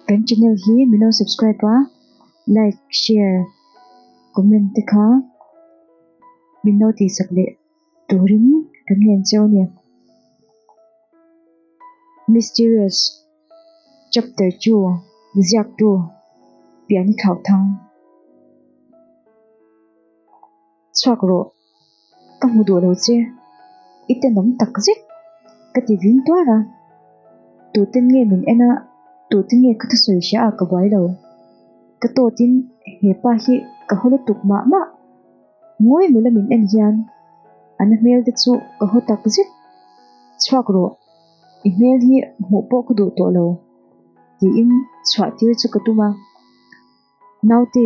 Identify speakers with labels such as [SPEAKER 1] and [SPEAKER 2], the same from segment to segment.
[SPEAKER 1] Kan channel hi mino subscribe a like share comment te kha mino ti sak leh turin kan ngen che rawh nia mysterious chapter chu ziak tu pian thlau thang Chhuak rawh, ka hmu duh lo che, i tenawm tak zet ka ti vin tuar a, tuten nge min en a, tuten nge ka thusawi hria a ka buai lo. Ka tawtin he pa hi ka haw lutuk mah mah, ngawi nula min en hian an a hmel te chu ka haw tak zet. Chhuak rawh, i hmel hi hmuh pawh ka duh tawh lo, tiin chhuahtir chu ka tum a. Naute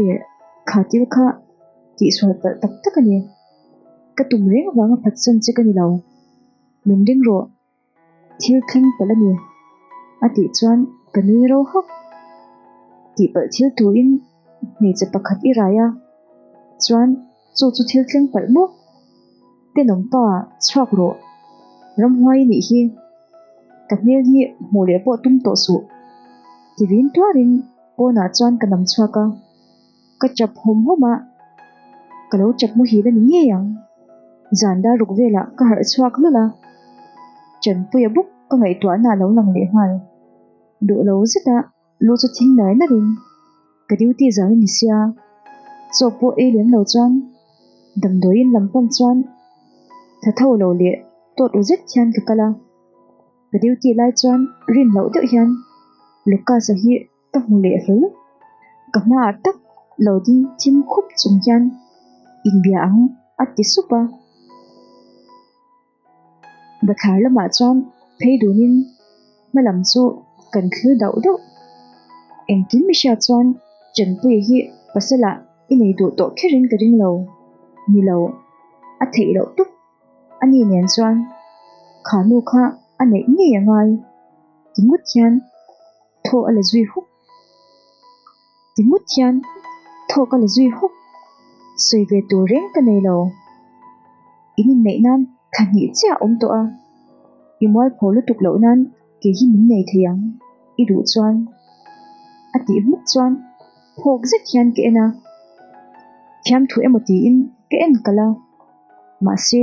[SPEAKER 1] kha til kha tih sual palh tak tak a ni. Ka tum reng vang a phatsan che ka ni lo. Min ring rawh, thil thleng palh a ni, a tih chuan ka nui ro hak. Tih palh thil turin hmeichhe pakhat i rai a, chuan. Chaw chu thil tleng palh maw? Tenawm pa chhuak rawh Ramhuai nih hi ka hmel hi hmuh leh pawh tum tawh suh tivin tuarin pawnah chuan ka nam chhuak a, ka chap hawm hawm a, ka lo chap muhil a ni ngei ang. Zan dar ruk velah ka harh chhuak hlul a, Chanpuia bawk ka ngaihtuahna a lo lang leh nghal duh lo zet a. Lu chu thing lai lar in ka duty zau in sia chawk pawh ei lem lo chuan damdawi in lam pawm chuan tha tho lo leh tawt u zet hian ka kal a, ka duty lai chuan rin loh deuh hian Lucas a hi ka hmu leh hle luh, ka hma ah tak lo ding thim khup chung hian inbia ang a ti sup a. Bathlar lamah chuan phei dunin hmalam chu kan thlir dauh dauh. Engkim Mishia chuan Chenpui hi pasal ah i nei duh tawh kherin ka ring lo ni lo, a theih loh tuk a ni nen chuan Khanu kha a neih ngei a ngai. Ti ngut hian thaw a la zui hup. timut hian thaw ka la zui hawk sawi ve tur reng ka nei lo in inneih nan thla hnih chiah awm tawh a i mualpho lutuk loh nan kei hi min nei thei ang i duh chuan a tih hmuk chuan phawk zet hian ka en a thiam thu emaw tiin ka en kalh a mahse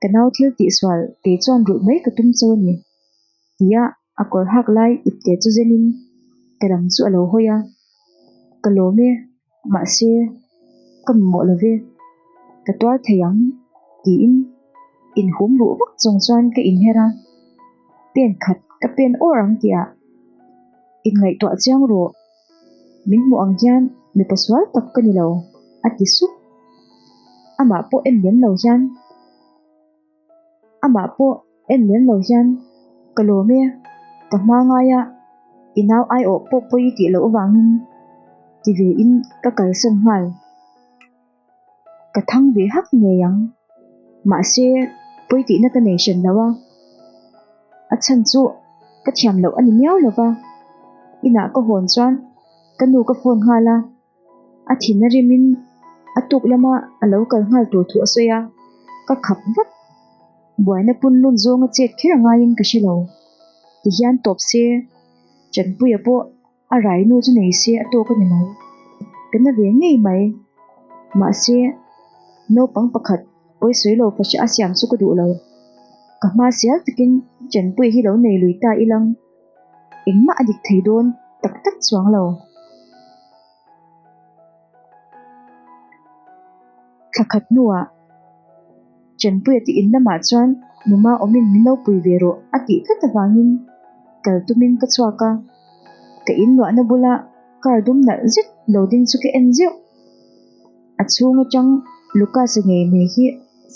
[SPEAKER 1] ka nau thil tihsual kei chuan rulh mai ka tum cho a ni ti a, a kawr hak lai ip te chu zen in ka ram chu a lo hawi a, ka lawm e mahse ka mi mawh lo ve ka tuar thei ang tiin in hum ruh vak chung chuan ka in her a, pen khat ka pen awr ang tih ah in ngaihtuah chiang rawh. Min hmuh ang hian mipa sual tak ka ni lo, a ti sup. Amah pawh en lem lo hian, amah pawh en lem lo hian ka lawm e, ka hma ngai a, i nau ai awh pawh pawh i tih loh avangin ti ve in ka kalsawm nghal. ka thang ve hak ngei ang mahse pawi tihna ka nei hran loh a a chhan chu ka thiam loh a ni miau lo va inah ka hawn chuan ka nu ka phone nghal a a thin a rim in a tuk lama a lo kal nghal tur thu a sawi a ka khap vat buaina punlun zawnga chet kher a ngaiin ka hre lo ti hian tawp se Chanpuia pawh A rainu chu nei se a tawk a ni mai, ka na ve ngei mai. Mahse, naupang pakhat pawisawi lo fahre a siam chu ka duh lo. Ka hma sial takin Chanpuii hi lo nei lui ta ilang, engmah a dik thei dawn tak tak chuang lo. Thlakhat hnuah. Chanpui a tihin lamah chuan numa awmin min lo pui ve rawh a tih tlat avangin kal tumin ka chhuak a, ka in luahna bula car dum nalh zet lo ding chu ka en zeuh. A chhung atang Lucas a ngei mai hi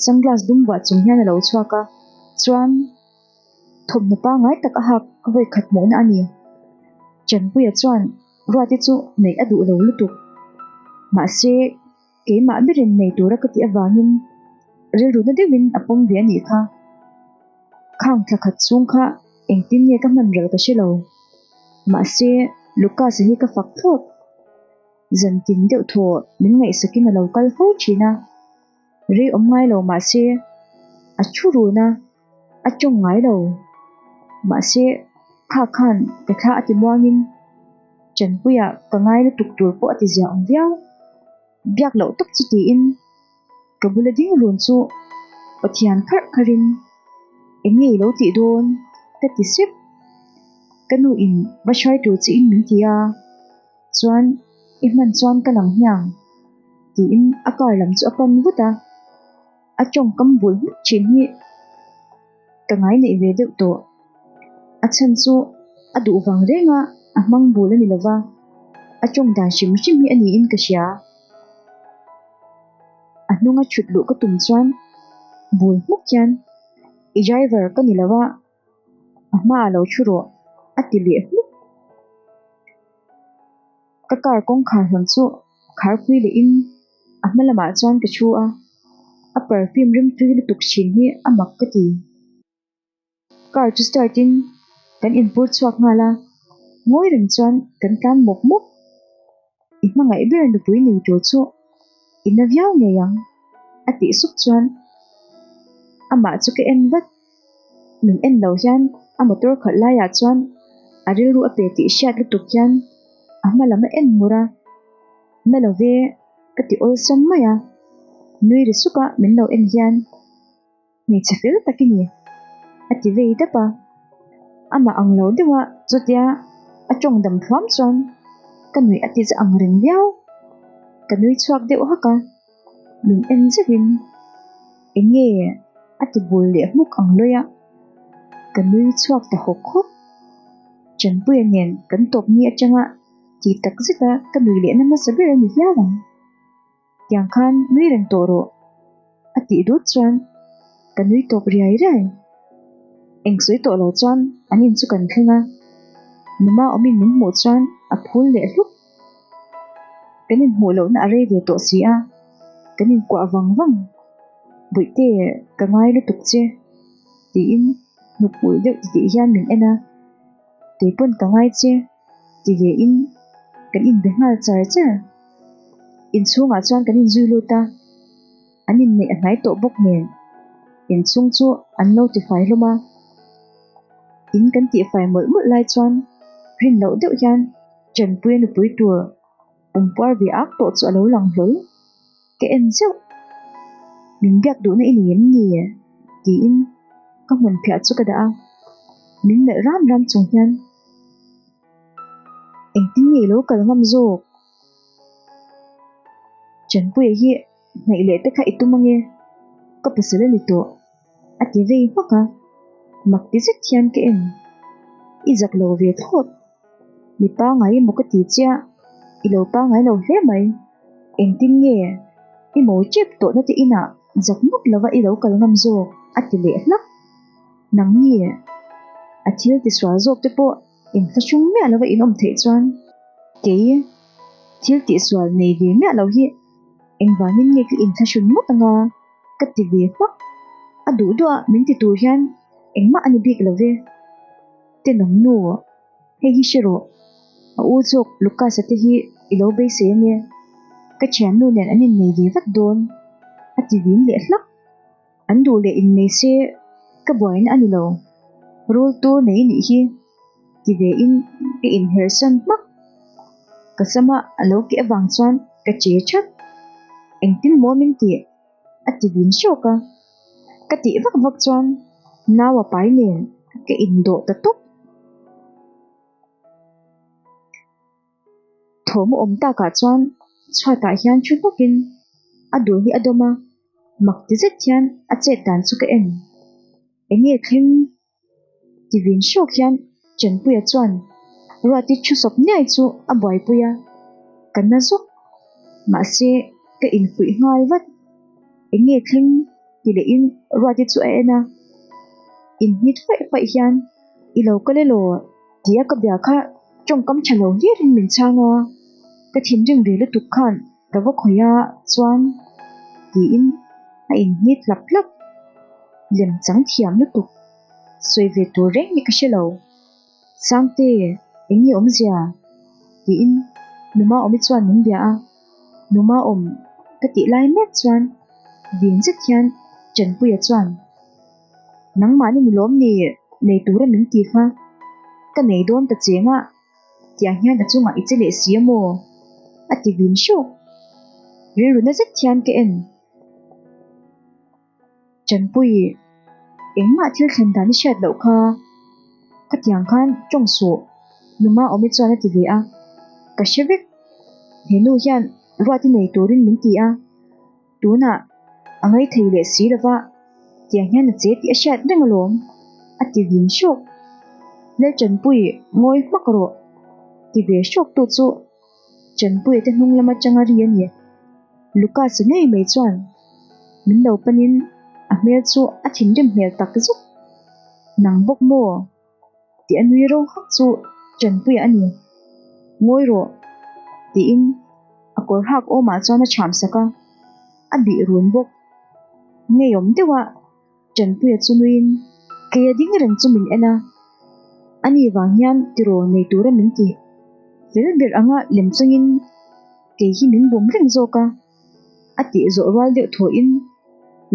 [SPEAKER 1] sunglass dum vuah chung hian a lo chhuak a, chuan thawmhnaw pangai tak a hak ka vawi khat hmuhna a ni. Chanpuia chuan ruate chu neih a duh lo lutuk. Mahse. Keimah berin nei tura ka tih avangin rilru na deuhin a pawm ve a nih kha. Khang thla khat chhung kha engtin nge ka hman ralh ka hre lo. Mahse, Lucas-a hi ka fak thlawp. Zantin deuh thaw min ngaihsakin a lo kal fo thin a. Rei awm ngai lo mahse, a thu run a. A tawng ngai lo. Mahse, kha khan ka thla a ti muangin Chanpuia ka ngai lutuk tur pawh a ti zia awm viau. Biak loh tak chu tiin ka bula ding run chu Pathian kharh kharhin Enge i lo tih dawn? ka ti sep. Ka nu in va hrai tur chi in min ti a, chuan i hman chuan ka lang hniang tiin a kar lam chu a pan vut a. a tawng kam bul hmuk thin hi ka ngai neih ve deuh tawh a chhan chu a duh vang reng a a hmang bul a ni lova a tawng dan hrim hrim hi a niin ka hria a hnunga thut luh ka tum chuan bul hmuk hian i driver ka ni lova a hma lo thu rawh a ti leh hmuk. Ka car kawngkhar han chu kharpui leh in a hma lamah chuan ka thu a, a perfume rimtui lutuk chhin hi a mak ka ti. Car chu start in kan in pur chhuak nghal a, ngawi reng chuan kan tlan mawp mawp. I hmangaih ber nupui nei tur chu i na viau ngei ang a tih suk chuan amah chu ka en vat min en lo hian a motor khalh laiah chuan a rilru a pe tih hriat lutuk hian a hma lam a en mur a na lo ve ka ti awlsam mai a nui ri suka min lo en hian Hmeichhe fel tak i ni, a ti vei dap a. Amah ang lo deuh a, chutia a tawng dam thuam chuan ka nuih a ti za ang reng viau. Ka nui chhuak deuh hak a, min en zeuhin, Enge? a ti bul leh hmuk ang lawia ka nui chhuak ta hawk hawk. Chanpuia nen kan tawpni atanga tih tak zeta ka nuih lehna hmasa ber a ni hial ang. tiang khan nui reng tawh rawh a tih dut chuan ka nui tawp riai riai, eng sawi tawh lo chuan an in chu kan thleng a, mama awmin min hmuh chuan a phul leh hlup, kan in hmuh lohna a rei ve tawh si a, kan in kuah vang vang, Buihte ka ngai lutuk che tiin hnupui deuh ti tih hian min en a, keipawn ka ngai che. ti ve in kan in be nghal char char, in chhungah chuan kan in zui lut a, an in neih hnai tawh bawk nen in chung chu an notify hlawm a, in kan tih fai mawlh mawlh lai chuan rin loh deuh hian ṭanpuia nupui tur, pawmpuar ve ak tawh chu alo lang hlawl ka en zeuh min biak duh na i ni em ni tiin ka hmun phiah chu ka dah a min melh ram ram chung hian engtin nge ilo kal ngam zawk Chanpuia hi Hnaih leh te kha i tum ange, ka pasal a ni tawh, a ti vei hmak a, mak ti zet hian ka en i zak lo ve thlawt, mi pangngai emaw ka ti chiah, i lo pangngai lo hle mai, engtin nge i mo chep tawh na te inah zak ngawt lova i lo kal ngam zawk a ti leh hlak, nang nge a thil tisual zawk te pawh. in hla hring miah lova inawm theih chuan kei thil tihsual nei ve miah loh hi engvangin nge ka inthla hrim ngawt anga ka ti ve hmak a duh duah a min ti tur hian engmah a ni bik love te nang nu hei hi hre rawh a u zawk Lucas-a te hi i lo beise a nia ka thiannu nen an innei ve vat dawn a ti vin leh hlak. An duh leh in nei se ka buain a ni lo, rul tur nei nih hi ti ve in ka in herh san hmak. Ka sam a a lo keh vang chuan ka che that, engtin maw min tih? a ti vin hrâwk a. Ka tih vak vak chuan nau a pai nen ka in dawh ta tawp. Thawm awm takah chuan chhuatah hian ṭhu hnakin a dul hi a dawm a. mak ti zet hian a chet dan chu ka en eng nge thleng ti vin hrawk hian Chanpuia chuan Ruati thu sawp niai chu a buaipui a, ka na zawk mahse ka infuih nghal vat, eng nge thleng ti leh in Ruati chu a en a, in hmit faih faih hian i lo ka lelo tia ka bia kha tawngkam tha lo hlir in min chhang a, ka thinrim ve lutuk khan. Ka va khawih a chuan tiin a in hni tlap tlap. Lem chang thiam lutuk, sawi ve tur reng hi ka hre lo. Sangte eng nge awm zia? tiin Numawmi chuan min bia a. Numawm ka tih lai mek chuan vin zet hian Chanpuia chuan Nangmahni nilawm ni nei tura min ti kha, ka nei dawn ta che ngah. Tiah hian a chungah i che leh si a maw? a ti vin hrawk. Rilru na zet hian ka en. Chanpuii, engmah thil thlen dan i hriat loh kha, ka tiang khan tawng suh, numa awm i chuan a ti ve a. Ka hre vek, he nu hian ruat i nei turin min ti a. Tunah a ngei thei leh si lova, tiang hian a che tih a hriat reng alawm, a ti vin hrawk. Lalchanpui ngawi hmak rawh, ti ve hrawk tu chu Chanpui te hnung lam atanga ri a ni. Lucas-a nei mai chuan min lo panin a hmel chu a thinrim hmel tak zuk. Nang bawk maw? tih a nui ro hak chu Chanpuia a ni. Ngawi rawh, tiin a kawr hak awmah chuan a chham sak a, a bih run bawk. Ngeiawm deuhah Chanpuia chu nuiin, Keia ding reng chu min en a, ani vang hian tiraw nei tur a min ti. Fel ber anga lem chungin kei hi min bum reng zawk a, a tih zawh rual deuh thawiin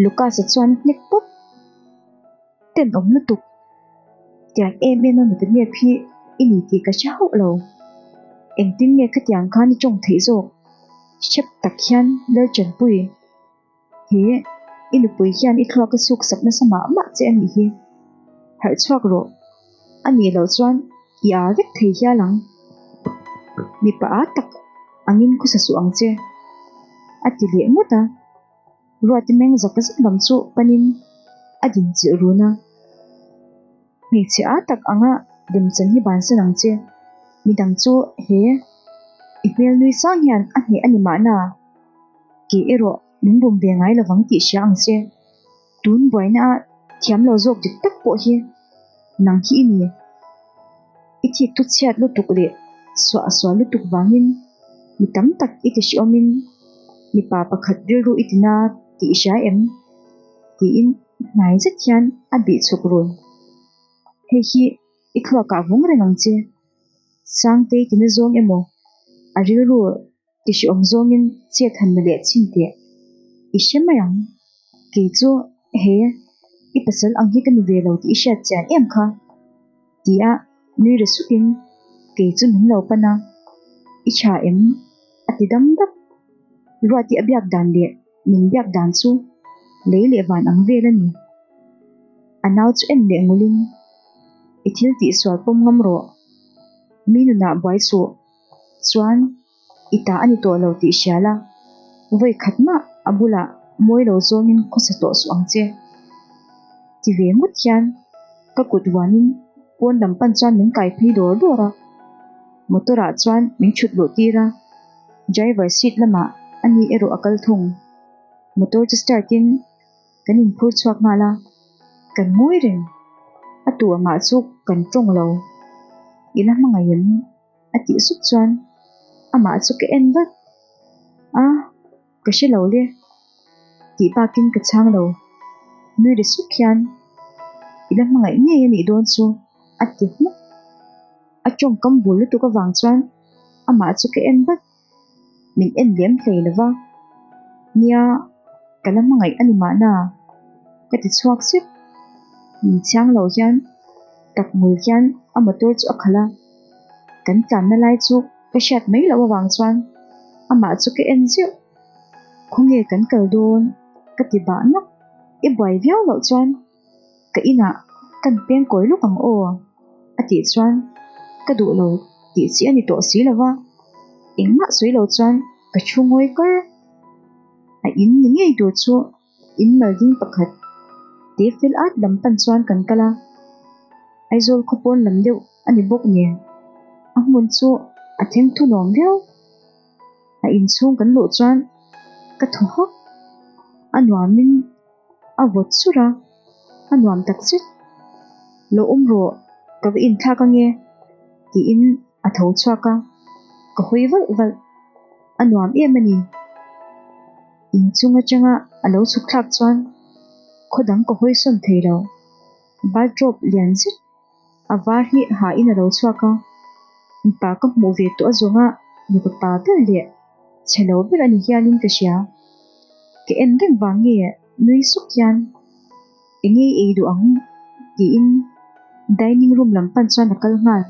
[SPEAKER 1] Lucas-a chuan hnek pawp. ten awm lutuk tiang em em a mipa nghep hi i ni tih ka hria hauh lo engtin nge khatiang khan i tawng theih zawk hrep tak hian lalchanpui he i nupui hian i thluaka suk sak nasa mah mah che a nih hi harh chhuak rawh a nih loh chuan i ar vek thei hial ang mipa a tak angin khusa suh ang che a ti leh ngawt a. Ruati meng zaka zet lam chu panin a din chilh run a, Hmeichhe a tak anga Demchan hi ban sen ang che, mi dang chu he i hmel nui sang hian a hneh a ni mahna ke erawh min bum ve ngai lovang tih hria ang che, tun buaina a thiam lo zawk dik tak pawh hi. Nang khi i ni i thik thu chhiat lutuk leh suah sual lutuk vangin mi tam tak i tihrihawmin mipa pakhat rilru i tina tih i hria em? tiin i hnai zet hian a bih chhuk run. Hei hi i thluakah vung reng ang che. Sangtei tina zawng emaw a rilru i hre awm zawngin chiat han la leh chin teh. I hre mai ang, kei chu he i pasal ang hi ka ni ve lo tih i hriat chian em kha, ti a nui re sukin kei chu min lo pan a, i tha em? a ti dam dap. Ruati a biak dan leh min biak dan chu lei leh van ang vel a ni. A nau chu en leh ngulin, I thil tihsual pawm ngam rawh, mi nunah buai suh chuan i ta a ni tawh lo tih hria la, vawi khat mah a bulah mawi lo zawngin khawsa tawh suh ang che ti ve ngawt hian ka kut vuanin pawn lam pan chuan min kai phei dawr dawr a, motor ah chuan min chhut luh tir a, driver seat lamah a ni erawh a kal thung, motor chu start in kan in phur chhuak nghal a, kan ngawi reng, a tu angah chu kan tawng lo, i la hmangaih em? a tih sup chuan amah chu ka en vat a, ka hre lo le tih bakin ka chhang lo nui ri suk hian i la hmangaih ngei a nih dawn chu a ti hmuh a tawngkam bul lutuk avang chuan amah chu ka en vat. min en lem hlei lo va nia ka la hmangaih a ni mahna ka ti chhuak sip min chhiang lo hian takngul hian a motor chu a khalh a kan tlanna lai chu ka hriat mai loh avang chuan amah chu ka en zieuh khawnge kan kal dawn ka ti bah nap i buai viau loh chuan ka inah kan peng kawi lawk ang aw a tih chuan ka duh lo tih chi a ni tawh si lova engmah sawi lo chuan ka thu ngawi kar a in ni ngei tur chu in mal ding pakhat te fel at lam pan chuan kan kal a Aizawl khaw pawn lam deuh a ni bawk nen a hmun chu a theng thu nuam viau a inchhung kan luh chuan ka thaw hawk a nuamin A vawt sur a, a nuam tak zet. Lo awm rawh, ka va inthlak ange, tiin a tho chhuak a, ka hawi valh valh. A nuam em a ni. In chung atanga a lo chhuk thlak chuan khaw dang ka hawisawn thei lo. Baldrop lian zet. A var hi ha in a lo chhuak a, mipa ka hmuh ve tawh zawng a, mipa pa ber leh che lo ber a ni hial in ka hria. Ka en reng vang nge nui suk hian eng nge i ei duh ang? ti in dining room lam pan chuan a kal nghal.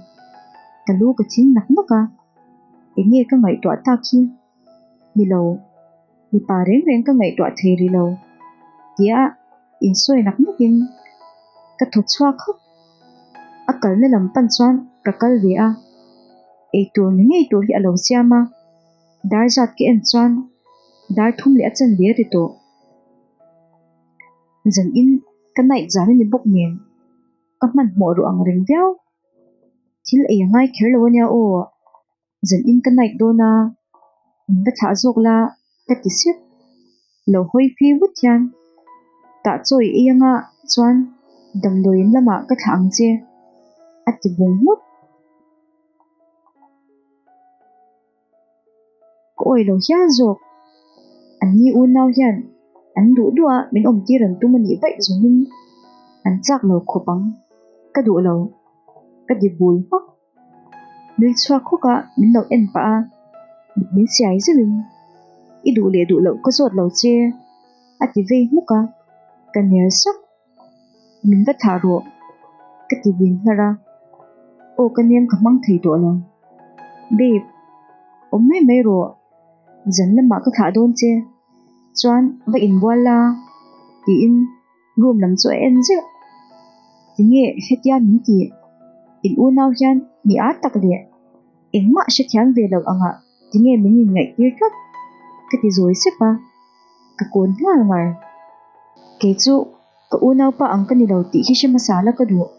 [SPEAKER 1] Ka lu ka thing nak nak a, eng nge ka ngaihtuah tak hi? ni lo, mipa reng reng ka ngaihtuah thei ri lo, tia in sawi nak nak in ka thaw chhuak hawk. A kalna lam pan chuan ka kal ve a, ei tur ni ngei tur hi a lo siam a, dar zat ka en chuan dar thum leh a chen ve ri tawh zan in ka naih zan a ni bawk nen ka hmanhmawh ru ang reng viau, thil ei a ngai kher lo a nia aw. zawlhin ka naih dawn a, min va thlah zawk la ka ti siup lo hawi fi vut hian tah chawi ei anga chuan damdawiin lamah ka thlah ang che a ti bung hmut. Ka awi lo hial zawk, an ni unau hian an duh duah a min awm tir an tum a nih vaih zawngin an chak lo khawp ang, ka duh lo ka ti bul hmak. Min chhuak khawk a, min lo en pah a, mit min siai zeuh in, I duh leh duh loh ka zawt lo che a ti vei hmuk a, ka nel sawk, min va thlah rawh ka ti din hlar a, aw ka niam ka hmang thei tawh lo, Babe awm mai mai rawh, zan lamah ka thlah dawn che chuan va inbual la tiin, Room lam chu a en zeuh. Tinge hetia min tih? In unau hian mi âr tak leh engmah hrethiam ve loh angah tinge min inngaihtir tlat? Ka ti zawi sep a, ka kûn nghal ngar. Kei chu ka unaupa ang ka ni lo tih hi hre hmasa la ka duh.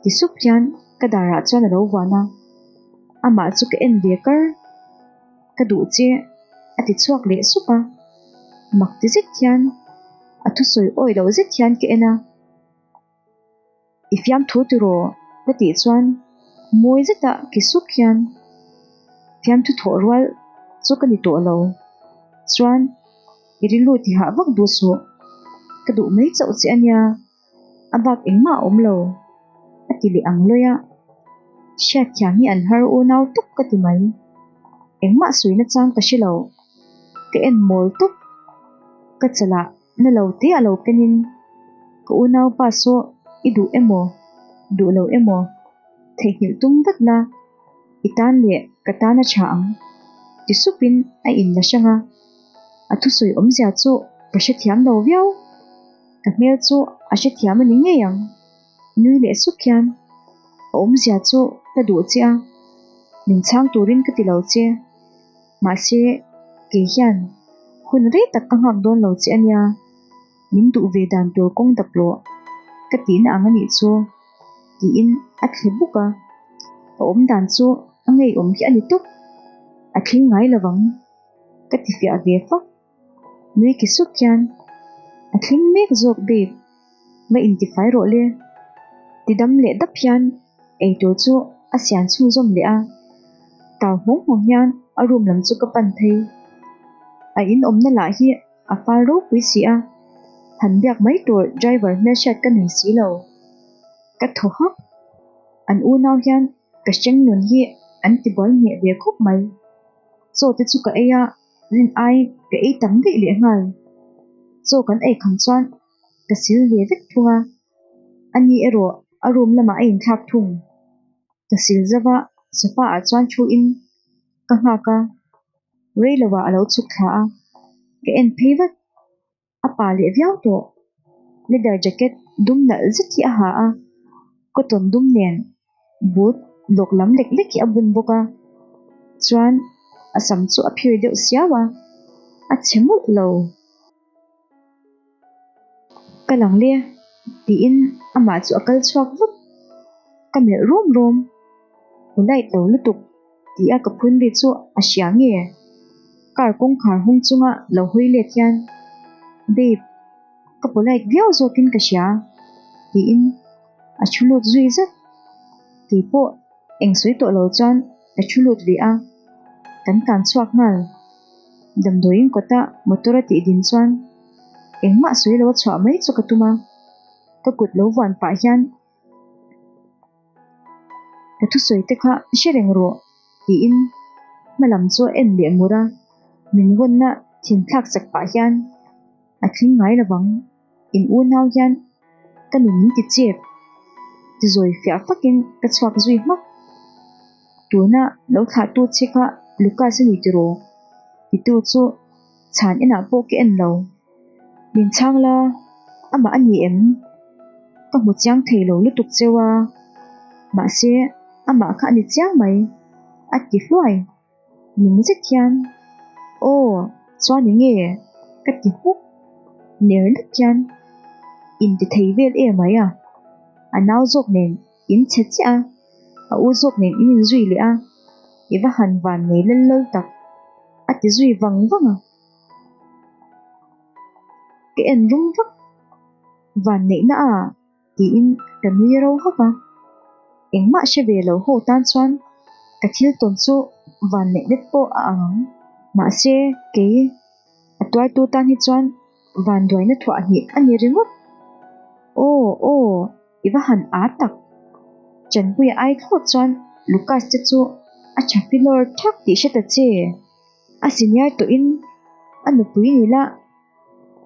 [SPEAKER 1] Ti sup hian ka darah chuan a lo vân a, amah chu ka en ve kar. ka duh che a ti chhuak leh sup a, mak ti zet hian a thusawi awih loh zet hian ka en a, i fiam thu tiraw ka tih chuan mawi zeta ki suk hian fiam thu thawh rual chu ka ni tawh lo chuan i rilru ti hah vak duh suh, ka duh mai chauh che a nia. a bak engmah a awm lo a ti leh ang luih a, hriatthiam hi an har u nau tak ka ti mai, engmah sawi na chang ka hre lo, ka en mawl tak ka chalah na lo te a lo pen in ka unaupa saw i duh emaw, duh lo emaw theihnghilh tum vat na i tan leh ka tan a tha ang ti sup in a in la hrang a, a thusawi awmzia chu ka hrethiam lo viau. Ka hmel chu a hrethiam a ni ngei ang, nui leh suk hian a awmzia chu ka duh che a, min chhang turin ka tilo che, mahse kei hian hun rei tak ka nghak dawn lo che a nia, min duh ve dan tur kawng dap rawh, ka tih na ang a nih chu, tiin a thle buk a, ka awm dan chu a ngeiawm hi a ni tawp, a thleng ngai lovang, ka tifiah ve fak. Nui ki suk hian, A tling mek zawk babe, va intifai rawh le. Ti dam leh dap hian eitur chu a siam chhung zawm leh a. Tau hmawng hmawng hian a room lam chu ka pan phei. A in awmna lah hi a fal ropui si a, han biak mai tur driver hmelshiat ka nei si lo. Ka thaw hak. An unau hian ka hrengnun hi an tibuai ngheh ve khawp mai. Chaw te chu ka ei a, Rin ai ka ei tak daih leh nghal, chaw kan ei kham chuan ka sil ve vek thung a, ani erawh a room lamah a in thlak thung, ka sil zauh a, sofa ah chuan thu in ka nghak a, rei lo ah a lo chhuk thla a, ka en phei vat. a pa leh viau tawh leather jacket dum nalh zet hi a ha a cotton dum nen boot lawk lam lek lek hi a bun bawk a chuan a sam chu a phir deuh siau a a chhe mawlh lo ka lang le tiin amah chu a kal chhuak vut ka melh rum rum polite lo lutuk. Tih a ka phun ri chu a hria nge? Car kawngkhar hung chunga lo hawi lek hian Babe ka polite viau zawkin ka hria tiin a thu lut zui zat. Keipawh eng sawi tawh lo chuan ka thu lut ve a, kan tan chhuak nghal. Damdawiin kawta motor a tih din chuan engmah sawi lo a chhuah mai chu ka tum a, ka kut lo vuan pah hian Ka thusawi te kha hre reng rawh, tiin hma lam chu a en leh mur a, min vawnna thin thlak chak pah hian a tling ngai lo vang. In unau hian ka nu min ti chep ti zawi fiah fakin ka chhuak zui hmak. Tuna lo thlahtu che kha Lucas a ni tiraw? Titu chu chhan inah pawh ka en lo, min chhang la amah a ni em? Ka hmu chiang thei lo lutuk che a, mahse amah kha a ni chiang mai a ti hluai ning zet hian aw chuan enge ka ti hmuh ner dik hian in ti thei vel emai a, a nau zawk nen. In chhe chiah a, a u zawk nen in inzui leh a, i va han van nei lal lal tak, a ti zui vang vang a. Ka en rum vak, van neihna a tiin ka nui ro hak a. Engmah hre ve lo ho tan chuan ka thil tawn chu van neih let pawh a ang ang. Mahse kei a tuaitu tan hi chuan van duaina thuah hnih a ni ringawt. Aw aw. i va han a tak. Chanpui a ai thlawt chuan Lucas te chu a tha pi lawr thak tih hre ta che. A senior tawhin a nupui ni la,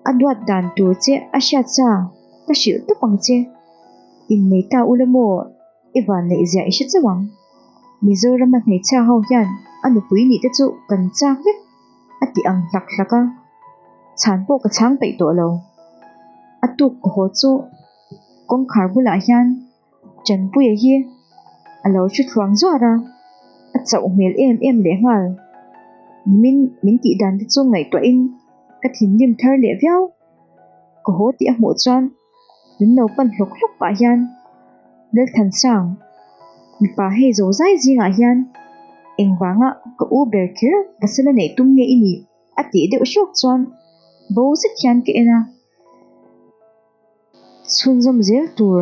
[SPEAKER 1] a duat dan tur che a hriat sa ka hrilh tawp ang che. Innei ta u la maw, i vanneihzia i hre chauh ang. Mizorama hmeichhia ho hian a nupui nih te chu kan chak vek a ti ang hlak hlak a, chhan pawh ka chhang peih tawh lo. A tuk ka haw chu. kawngkhar bulah hian Chanpuia hi a lo hre thluang zuar a, a chauh hmel em em lehnghal. Nimin min tih dan te chu ngaihtuah in ka thinrim thar leh viau. Ka haw tih a hmuh chuan min lo pan hlawk hlawk pah hian Lalthansang mipa hei zo zai zingah hian engvanga ka u ber kher ka sal a neih tum nge i nih a tih deuh hrawk chuan bo zet hian ka en a. chhunzawm zel tur.